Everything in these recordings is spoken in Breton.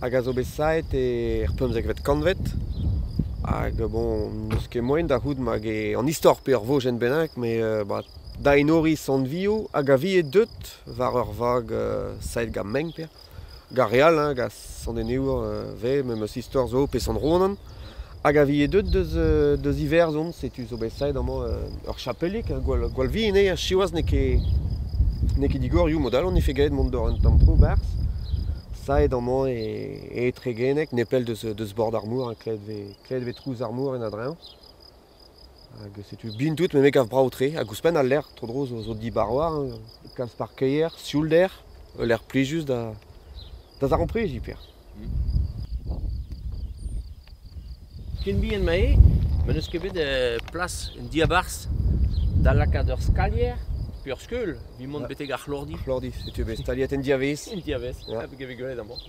hag a zo bet saet er pemzekvet kantved. Hag bon, n'eus ket moaien da c'hoût mag eo an istor pe ur vojenn bennak, met bah, da enoriñ Sant-Vio hag a vie deut war ur vag saet gant mein per. Gant re all, gant Sant-Enebour 'vez, memes istor zo, pe Sant-Ronan. Hag a vije deuet deus Iwerzhon, setu zo bet saet amañ ur chapelig, gwall vihan eo, ha siwazh n'eo ket n'eo ket digorioù, mod-all on efe graet mont d'ur un tamm tro 'barzh, saet amañ e Tregeneg, nepell deus bord ar mor, ha klevet 'vez trouz ar mor en a-dreñv. Hag setu bin tout, met me gav brav-tre. Hag ouzhpenn al lec'h, tro-dro zo dibar war, kalz parkeier, sioulder, ul lec'h plijus da zaramprediñ hiper. Ken bihan ma eo, ma n'eus ket bet plas un diabarzh da lakaat ur skalier pe ur skeul evit mont betek ar c'hlordi. Ar c'hlordi, setu bet staliet en diavez. En diavez, hag evit gwelet amañ.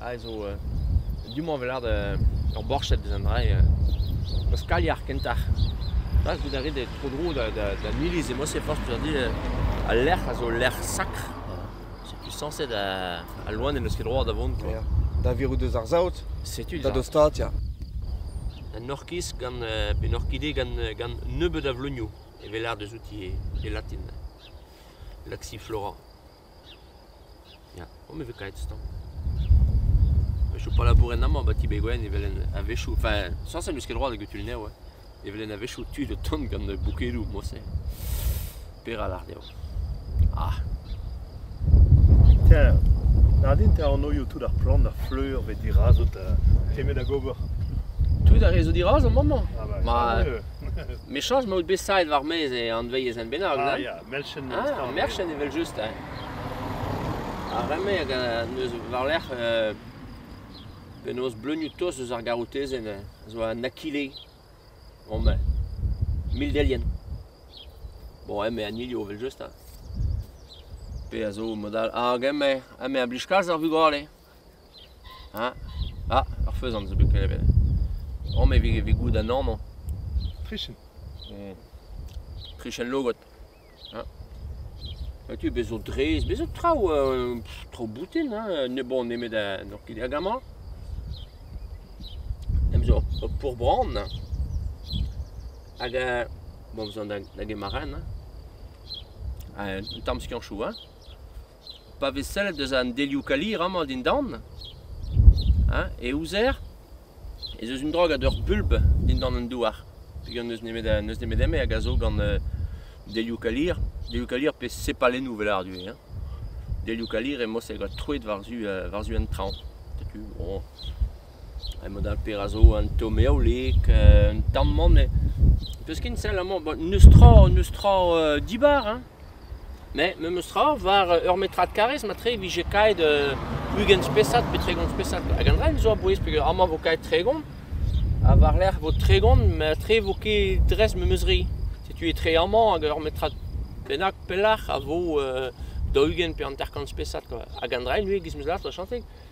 a zo du-mañ vel ard ur borched eus an dra-se ur skalier kentoc'h. Klask out a rit e tro-dro d'an iliz emañ se forzh peseurt dit al lec'h a zo lec'h sakr. Setu sañset al loen n'eus ket droad da vont quoi. Da virout eus ar saout, setu da dostaat ya. Un orkiz gant un orkide gant nebeut a vleunioù evel ard eus outi e latin. Laxiflora. Ya, on me vez kaet stañv. A-wechoù pa labouren amañ 'ba Ti-Bez Gwenn evel en a-wechoù, enfin sañset n'eus ket droad eget un ev, evel en a-wechoù tu da tont gant boukedoù moñse. Peral àr dezho? Ah! Tiens, Nadine, te anoiou tout ar plant, ar fleur 'vez dirazot nemet ag ober. Tout ar re zo dirazomp amañ? Ah bah, Ma- tant mieux. Mechañs 'maout bet saet war-maez e anveiz en bennak, ah nan? ya. Ah, merched evel-just, hein. Ar re-mañ hag neus war-lerc'h euh, penaos bleunioù tost eus ar garotezenn hein, a zo an akile. Bon ben, mil delienn. Bon, emañ an ilio evel-just hein. Pe a zo mod all. Hag emañ, emañ a blij kalz ar vugale. Hein Ah, ur feuzant zo bet klevet. Oh, mais vez, vez goût an amañ. Trichin. Mmh. Trichin logot. Hein. Tu, bez zo drez, bez zo traoù euh, traoù boutin, hein, ne bon nemet euh, n'oc'h ket hag amañ. Em zo ur pourbran. Hag euh, bon, bezañ da get marenn. Hein. Un tamm skianchoù, hein. pa vez sellet eus an delioù-kalir amañ dindan, hein, e ouzer ez eus un dra gant ur bulb dindan an douar. Peogwir n'eus nemet, n'eus nemet eme hag a zo gant uh, delioù-kalir, delioù-kalir pe sepalennoù vel ar du, hein. Delioù-kalir emañ se gant troet war-zu uh, war-zu an traoñ. Setu, oh, emañ dal pezh a zo un tamm eolik, un tamm mann, me... peus ken sell amañ, n'eus tra, n'eus tra uh, dibar, hein. Mais memes tra war ur metrad karrez mat-tre e vije kaet ugent spesad pe tregont spesad hag an dra-se zo a-bouez peogwir amañ vo kaet tregont ha war-lerc'h vo tregont mat-tre vo ket dres memes re. Setu etre amañ hag ur metrad bennak pelec'h a vo daou-ugent pe hanter-kant spesad kwa. Hag an dra-se ivez 'giz 'meus lâret va chañtig.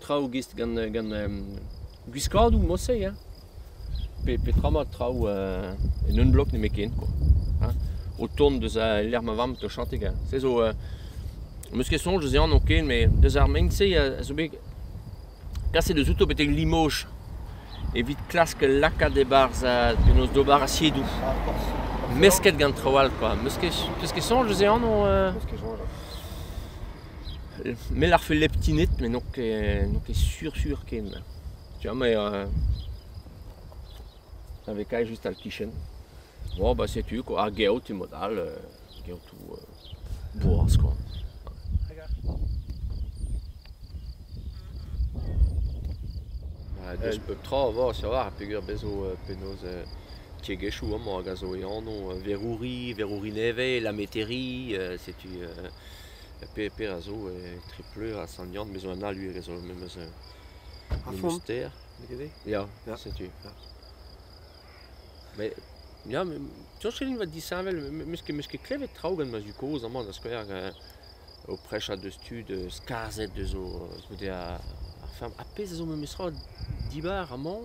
traoù gist gant, gant gwiskadoù mod-se hein. Pe petra mat traoù en un blog nemetken quoi. Hein? O tont deus al lec'h ma vamm 'to chañtek hein. Se zo am eus ket soñj ez eo anv ken met deus ar mein-se a zo bet kaset deus outo betek Limoges evit klask lakaat e-barzh penaos d'ober asiedoù. Mesket gant traoù all quoi. 'Meus ket, 'peus ket soñj eus e anv? Peus ket soñj Me larfe leptined met n'on ket n'on ket sur sur ken. Tu vois me a-vekaet just al kichen. Bon bah setu quoi, ar geot emaout all, geotoù boaz quoi. Deus pep tra avat a-walc'h peger bez zo penaos tiegezhioù amañ hag a zo e anv Verouri, Verouri Nevez, La Métairie, setu Peper a zo etre Pleur ha Sant-Yann, me zo en Aluer e zo me meus ar Moustair, gete? Ya, setu. Met ya, soñj ket din 'vat disheñvel, meus ket meus ket klevet traoù gant ma zud-kozh amañ da skouer, o prechañ deus tud skarzhet deus o, goude ar feñv. Ar pezh a zo memestra dibar amañ,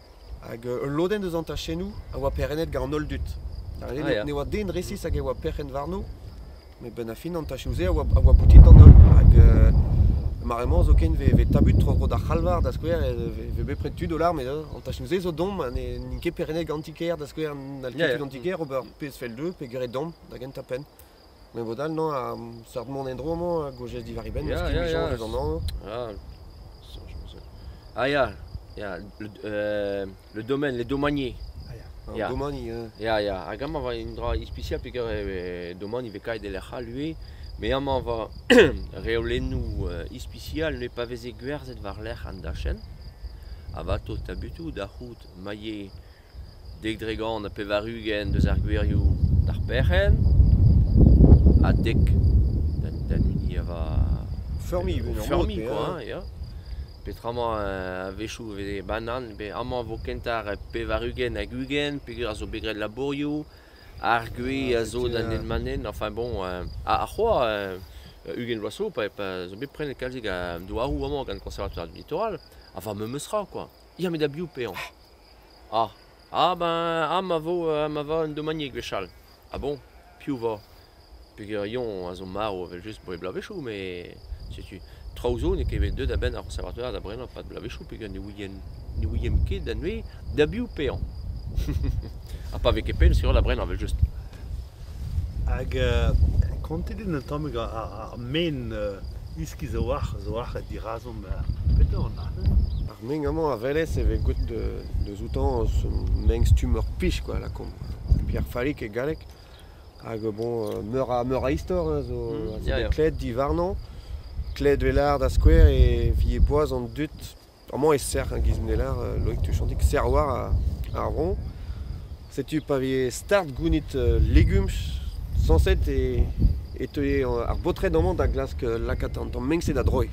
Hag ul lodenn eus an tachennoù a oa perc'hennet gant an holl dud. Da welet ah, ne oa den resis hag e oa perc'henn warno, met benn ar fin an tachoù-se a oa, a oa boutin d'an holl. Hag euh, mare-mañ zoken vez tabut tro-tro d'ar c'halvar, da skouer, vez bepred tud o larm. An tachennoù-se zo domp, n'int ket perc'hennet gant ti-kêr, da skouer, n'hall ket tud an ti-kêr ober pezh fell dezho pe graet domp da gentañ penn. Me vo dal mañ ar seurt mont en-dro-mañ a gojez diwar e benn, Ya, meus ya, ya. kivijañs amañ. Ah, soñj am eus un- Ah ya, ya, le euh, le domaine, les domaniers. Ah ya, an Ya. domani, euh, Ya, ya, hag amañ 'va un dra ispisial peger e domani 'vez kaet e-lec'h all ivez, met amañ 'va reolennoù euh, ispisial ne pa veze gwerzhet war-lerc'h an dachenn, a 'vat tost tabutoù da c'hoût mailher dek dre gant ha pevar-ugent deus ar gwirioù d'ar perc'henn ha dek d'an hini a va Feurmiñ o unan feurmiñ européen. quoi, ya. Petramañ euh, a-wechoù e vez banan, pe amañ vo kentañ ar pevar-ugent hag ugent peogwir a zo bet graet labourioù, ar gwez Ah, a zo da effectivement. nenn-manen, enfin bon, euh, ha ha c'hoazh euh, ugent vloaz zo pa, pa zo bet prenet kalzik a douaroù amañ gant Konservatoire du Littoral, ha va memes tra quoi. Ya met da biv pevañ? Ah, ah ben, ah ma vo, euh, ma vo un domanieg gwechall. Ah bon, piv 'vo? Pegerion a zo marv evel-just dre bloavezhioù, met setu, traoù zo n'eo ket bet deuet a-benn ar Conservatoire da brenañ 'pad bloavezhioù peger ne ouien, ne ouiemp ket da neuze da biv paeañ. ha pa vez ket pell sur da brenañ evel-just. Hag kontet eo an tamm ar men iskis a-walc'h a-walc'h dirazomp petra an arc'hant. Ar men amañ a welez e vez gwelet deus outañ eus un menn-stumm ur pich kwa lakaomp. Pierre Fallic e galleg. Hag bon meur a meur a istor hein zo a zo bet klevet diwarnañ. Klevet 'vel lâr da skouer e vije boaz an dud Amañ e-serr e giz Neller, Loïc Tuchantic, serr war ar vro. Setu pa vije start gounit legumes sañset e e teue ar baotred amañ da glask lakaat an tamm meñse da droiñ.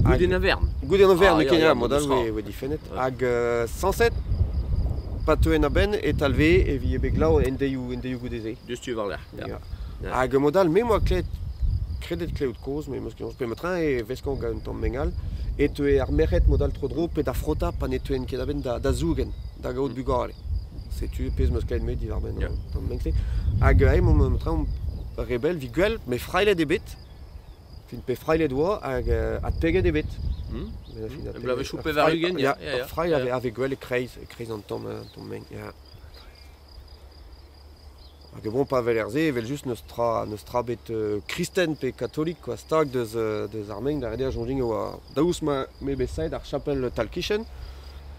Goude an Avern. Goude an Avern, Ah, ya, ya, mod-all mousc'hoar. e oe difennet. Hag euh, sañset, pa teuent a-benn, e talvee e vije bet glav en deioù en deioù goude-se. Diouzh tu warlerc'h. Hag mod-all, me 'moa klevet, kredet klevout kozh, me 'meus kenañ, pe metra e veskañ gant un tamm meng all, e teue ar merc'hed mod-all tro-dro pe da frotañ pa ne teuent ket a-benn da zougen, da gaout bugale. Setu pezh 'meus klevet met diwar-benn an tamm meng-se. Hag aze metra omp rebell 'vit gwell, met frailhet eo bet. Fin pe frailhet 'oa hag adpeget eo bet. Bloavezhioù pevar-ugent, ya, ya, ya. Frailh a vez gwell e-kreiz, e-kreiz an tamm meng, ya. Hag e vo pa weler se evel-just n'eus tra, n'eus tra bet kristen pe katolik quoi, stag deus, deus ar mein da rediañ soñjing e oa daoust ma m'eo bet saet ar chapel Talkichen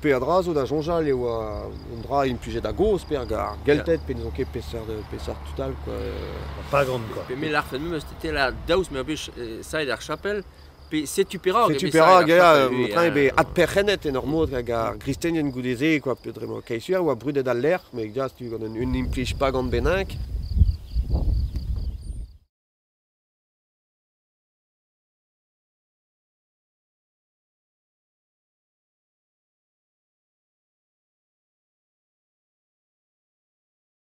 peadra zo da soñjal e oa un dra implijet a-gozh pe ar Gelted pe ne sont ket peseurt, peseurt tud all quoi. Pa gant quoi. Pe me lârfen memes e tela daoust m'eo bet saet ar chapel Pe setu perak Setu perak, ya, train be adperc'hennet en ur mod hag ar gristenien goude-se, quoi, pe dre ma kaesur, oa brudet al lec'h, met ja, tu gant un, un implij pa gant bennak.